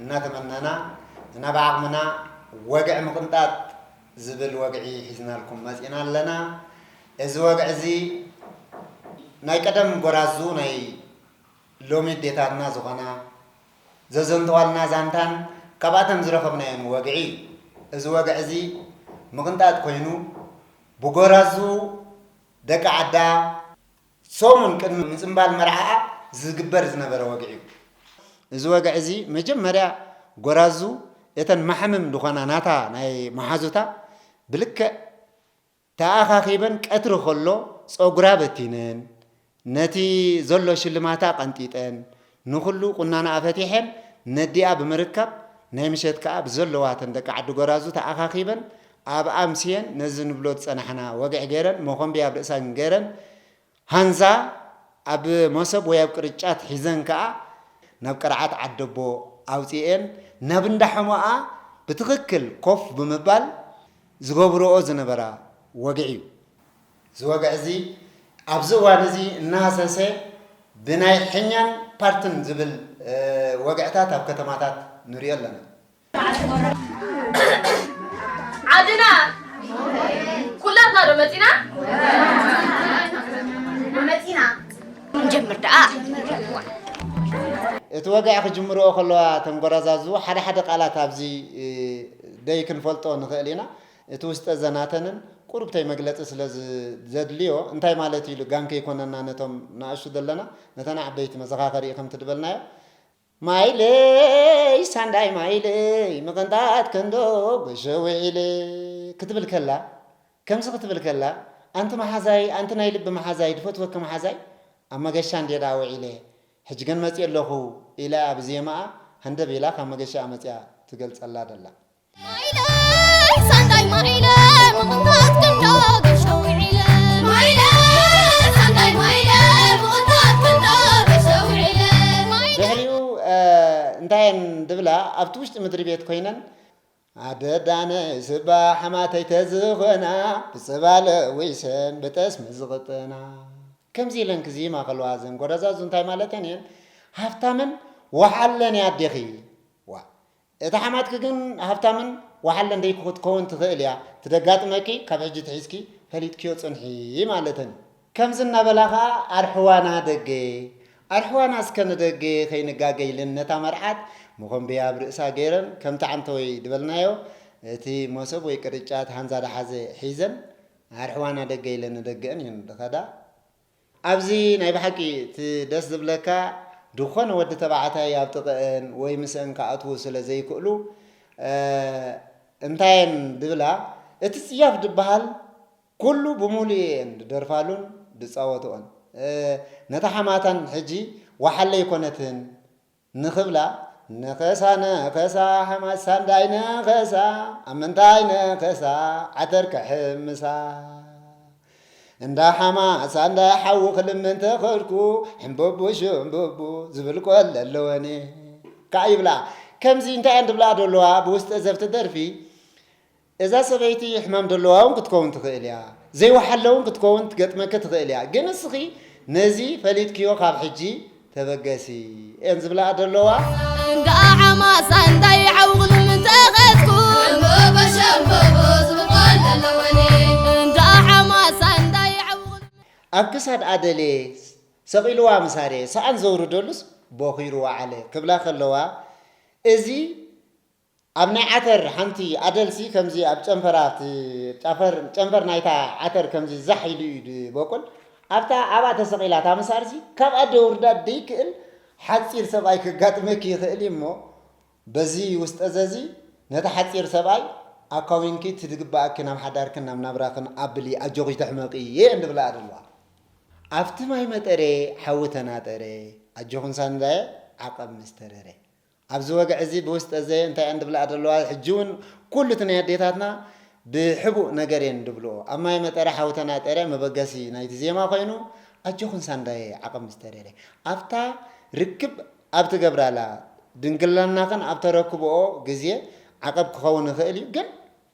እናተመናና ንናብ ዓቕምና ወግዒ ምቕንጣጥ ዝብል ወግዒ ሒዝናልኩም መፂእና ኣለና። እዚ ወግዒ እዚ ናይ ቀደም ጎራዙ ናይ ሎሚ ኣዴታትና ዝኾና ዘዘንተዋልና ዛንታን ካብኣተን ዝረኸብናዮን ወግዒ እዩ። እዚ ወግዒ እዚ ምቕንጣጥ ኮይኑ ብጎራዙ ደቂ ዓዳ፣ ሰሙን ቅድሚ ምጽንባል መርዓኣ ዝግበር ዝነበረ ወግዒ'ዩ። እዚ ወግዒ'ዚ መጀመርያ ጎራዙ እተን ማሕምም ዝኾና ናታ ናይ መሓዙታ ብልክዕ ተኣኻኺበን ቀትሪ ከሎ ጸጉራ በቲነን ነቲ ዘሎ ሽልማታ ቀንጢጠን ንኹሉ ቁናናኣ ፈቲሐን ነዲኣ ብምርካብ ናይ ምሸት ከኣ ብዘለዋተን ደቂ ዓዲ ጎራዙ ተኣኻኺበን ኣብ ኣምስየን ነዚ ንብሎ ዝጸናሕና ወግዒ ገይረን ሞኾምብያ ኣብ ርእሰን ገይረን ሃንዛ ኣብ ሞሶብ ወይ ኣብ ቅርጫት ሒዘን ከኣ ናብ ቅርዓት ዓደቦ ኣውጺኤን ናብ እንዳ ሐሞኣ ብትኽክል ኮፍ ብምባል ዝገብርኦ ዝነበራ ወግዒ እዩ። እዚ ወግዒ እዚ ኣብዚ እዋን እዚ እናሃሰሰ ብናይ ሕኛን ፓርትን ዝብል ወግዕታት ኣብ ከተማታት ንሪኦ ኣለና። ዓድና ኩላትና ዶ መፂና? መፂና ንጀምር ደኣ እቲ ወግዒ ክጅምርኦ ከለዋ እተን ጎራዛዙ ሓደ ሓደ ቃላት ኣብዚ ደይክንፈልጦ ንኽእል ኢና። እቲ ውስጠ ዘናተንን ቁሩብተይ መግለጺ ስለ ዘድልዮ እንታይ ማለት እዩ ኢሉ ጋን ከይኮነና ነቶም ንኣሽቱ ዘለና ነተን ዓበይቲ መዘኻኸሪ እዩ ከምቲ ድበልናዮ ማይለይ ሳንዳይ ማይለይ ምቕንጣት ከንዶ ጎሾ ውዒለ ክትብል ከላ ከምዚ ክትብል ከላ ኣንቲ መሓዛይ ኣንቲ ናይ ልቢ መሓዛይ ድፈትወኪ መሓዛይ ኣብ መገሻ እንድየ ደኣ ውዒለ ሕጂ ግን መጺኤ ኣለኹ ኢላ እያ ብዜማኣ ሃንደብ ኢላ ካብ መገሻኣ መጺኣ ትገልጸላ ደላ። ኣብቲ ውሽጢ ምድሪ ቤት ኮይነን ኣደዳነ ስባ ሓማተይ ተዝኾና ብፅባለ ወይሰን ብጠስሚ ዝቕጥና ከምዚ ኢለን ክዝይማ ከለዋ ዘን ጎረዛዙ እንታይ ማለተን እየን ሃፍታምን ወሓለን ኣዴኺ ዋ እታ ሓማትኪ ግን ሃብታምን ወሓለን ደይ ክትከውን ትኽእል እያ ትደጋጥመኪ ካብ ሕጂ ትሒዝኪ ፈሊጥክዮ ጽንሒ ማለተን እዩ። ከምዚ እናበላ ከኣ ኣርሕዋና ደገ ኣርሕዋና እስከ ንደገ ከይንጋገ ኢለን ነታ መርዓት መኾምብያ ኣብ ርእሳ ገይረን ከምቲ ዓንተወይ ድበልናዮ እቲ ሞሶብ ወይ ቅርጫት ሃንዛ ድሓዘ ሒዘን ኣርሕዋና ደገ ኢለን ንደገኣን እየን ድኸዳ። ኣብዚ ናይ ብሓቂ እቲ ደስ ዝብለካ ድኾነ ወዲ ተባዕታይ ኣብ ጥቅእን ወይ ምስእን ክኣትዉ ስለ ዘይክእሉ እንታየን ድብላ እቲ ጽያፍ ድብሃል ኩሉ ብሙሉኡ እየን ድደርፋሉን ድጻወትኦን ነታ ሓማታን ሕጂ ወሓለይ ኮነትን ንኽብላ ነኸሳ ነኸሳ ሓማስ ሳንዳይ ነኸሳ ኣብ ምንታይ ነኸሳ ዓተር ክሕምሳ እንዳ ሓማስ ሳንዳይ ሓዊ ክልምን ተኸድኩ ሕምብቡ ሽምብቡ ዝብል ቆለ ኣለወኒ ካዓ ይብላ ከምዚ እንታይ እየን ድብላ ደለዋ ብውስጠ ዘፍቲ ደርፊ እዛ ሰበይቲ ሕማም ደለዋ ውን ክትከውን ትኽእል እያ ዘይወሓለ ውን ክትከውን ትገጥመኪ ትኽእል እያ ግን ንስኺ ነዚ ፈሊጥክዮ ካብ ሕጂ ተበገሲ እየን ዝብላኣ ደለዋ። እንቃዕ ማሳንዳይ ዓውቕሉም ተኸዝኩ እምቦቦ ሸምቦቦ ዝብቆል ደለወኒ እንቃዕ ማሳንዳይ ዓውቕሉም። ኣብ ክሳድ ኣደሌ ሰቒሉዋ ምስ ኣርየ ሰኣን ዘውርደሉስ ቦኺሩ ወዓለ ክብላ ከለዋ እዚ ኣብ ናይ ዓተር ሓንቲ ኣደልሲ ከምዚ ኣብ ጨንፈር ኣብቲ ጨፈር ጨንፈር ናይታ ዓተር ከምዚ ዛሕ ኢሉ እዩ ድበቁል ኣብታ ኣብኣ ተሰቂላ እታ መሳርሲ ካብኣ ደውርዳ ደይክእል ሓጺር ሰብኣይ ከጋጥመኪ ይክእል እዩ እሞ በዚ ውስጠዘዚ ነቲ ሓጺር ሰብኣይ ኣካዊንኪ እቲ ድግበኣኪ ናብ ሓዳርክን ናብ ናብራክን ኣብሊ ኣጆኪ ይትሕመቂ እየ እንድብለኣ ደለዋ ኣብቲ ማይ መጠረ ሓዊ ተናጠረ ኣጆክን ሳንዳየ ዓቀብ ምስ ተረረ ኣብዚ ወግዒ እዚ ብውስጠ ዘየ እንታይ እየን ድብልኣ ዘለዋ ሕጂ ውን ኩሉ እቲ ናይ ኣዴታትና ብሕቡእ ነገር እየን ድብልኦ ኣብ ማይ መጠረ ሓዊ ተናጠረ መበገሲ ናይቲ ዜማ ኮይኑ ኣጆኽን ሳንዳየ ዓቕን ምስ ተደለ ኣብታ ርክብ ኣብ ትገብራላ ድንግልናኽን ኣብ ተረክብኦ ግዜ ዓቐብ ክኸውን ይኽእል እዩ ግን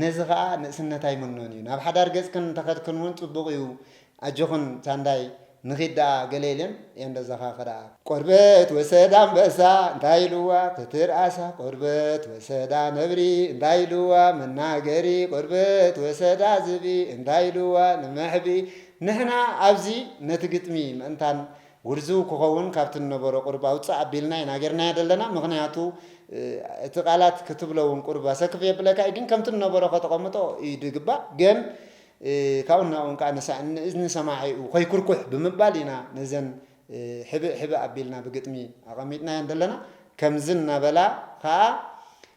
ነዚ ከኣ ንእስነት ኣይምኖን እዩ። ናብ ሓዳር ገጽክን እንተኸድክን እውን ጽቡቕ እዩ። ኣጆኽን ሳንዳይ ንኺድ ደኣ ገለ የለን ኤንዶ እዛኻ ከደኣ። ቆርበት ወሰዳ ኣንበሳ እንታይ ኢልዋ ተትርኣሳ ቆርበት ወሰዳ ነብሪ እንታይ ኢልዋ መናገሪ ቆርበት ወሰዳ ዝብኢ እንታይ ኢልዋ ንመሕብኢ ንሕና ኣብዚ ነቲ ግጥሚ ምእንታን ውርዝው ክኸውን ካብቲ ንነበሮ ቁርብ ኣውጽእ ኣቢልና ኢና ጌርናዮ ዘለና ምኽንያቱ እቲ ቃላት ክትብሎ ውን ቁርብ ኣሰክፍ የብለካ ኢዩ ግን ከምቲ ንነበሮ ከተቐምጦ ኢዩ ድግባእ ገን ካብኡን ናብኡን ከኣ ንሳእን ንእዝኒ ሰማዒኡ ከይኩርኩሕ ብምባል ኢና ነዘን ሕብእ ሕብእ ኣቢልና ብግጥሚ ኣቐሚጥናየን ዘለና ከምዚ እናበላ ከኣ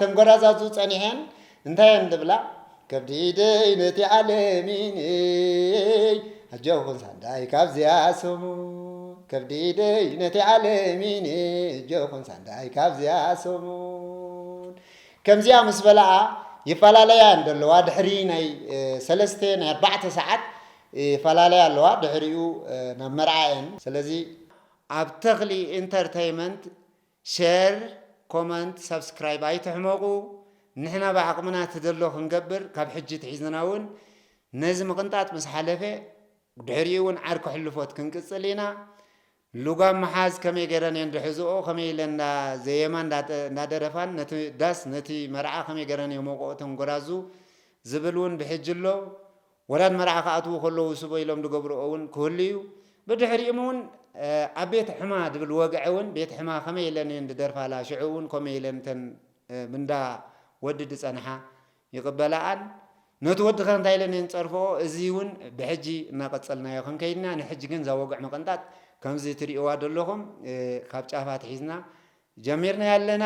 ተንጎራዛዙ ጸኒሐን እንታይ እየን ዝብላ ከብዲ ኢደይ ነቲ ዓለሚነይ ኣጆኹን ሳንዳይ ካብዚያ ስሙ ከብዲ ኢደይ ነቲ ዓለሚነይ ኣጆኹን ሳንዳይ ካብዚያ ስሙን ከምዚኣ ምስ በላኣ ይፈላለያ እየን ዘለዋ ድሕሪ ናይ ሰለስተ ናይ ኣርባዕተ ሰዓት ይፈላለያ ኣለዋ ድሕሪኡ ናብ መርዓ እየን ስለዚ ኣብ ተኽሊ ኢንተርተይመንት ሸር ኮመንት ሳብስክራይብ ኣይትሕመቁ ንሕና ብዓቅምና ትደሎ ክንገብር ካብ ሕጂ ትሒዝና ውን ነዚ ምቅንጣጥ ምስ ሓለፈ ድሕሪኡ ውን ዓርኪ ሕልፎት ክንቅጽል ኢና ሉጋም ምሓዝ ከመይ ገረን እየን ድሕዝኦ ከመይ ኢለን እንዳ ዘየማ እንዳ ደረፋን ነቲ ዳስ ነቲ መርዓ ከመይ ገረን የሞቅኦ እተን ጎራዙ ዝብል ውን ብሕጂ ኣሎ ወላድ መርዓ ክኣትዉ ከለዉ ስቦ ኢሎም ዝገብርኦ ውን ክህሉ እዩ። ብድሕሪኡም ውን ኣብ ቤት ሕማ ዝብል ወግዒ ውን ቤት ሕማ ከመይ ኢለን እየን ዝደርፋላ ሽዑ ውን ኮመይ ኢለን እተን ብንዳ ወዲ ዝጸንሓ ይቅበላኣን ነቲ ወዲ ከ እንታይ ኢለን እየን ዝጸርፍኦ እዚ ውን ብሕጂ እናቀጸልናዮ ክንከይድ ኢና ንሕጂ ግን እዛ ወግዒ ምቅንጣጥ ከምዚ ትሪእዋ ዘለኹም ካብ ጫፍ ኣትሒዝና ጀሚርናዮ ኣለና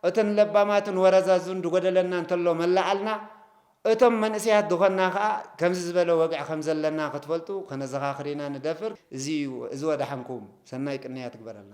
እትን ለባማትን ወረዛዝን ድጎደለና እንተሎ መላኣልና እቶም መንእሰያት ድኾንና ከኣ ከምዚ ዝበለ ወግዒ ከም ዘለና ክትፈልጡ ከነዘኻኽር ኢና ንደፍር እዚ እዩ እዚ ወደሓንኩም ሰናይ ቅንያት ይግበረልና።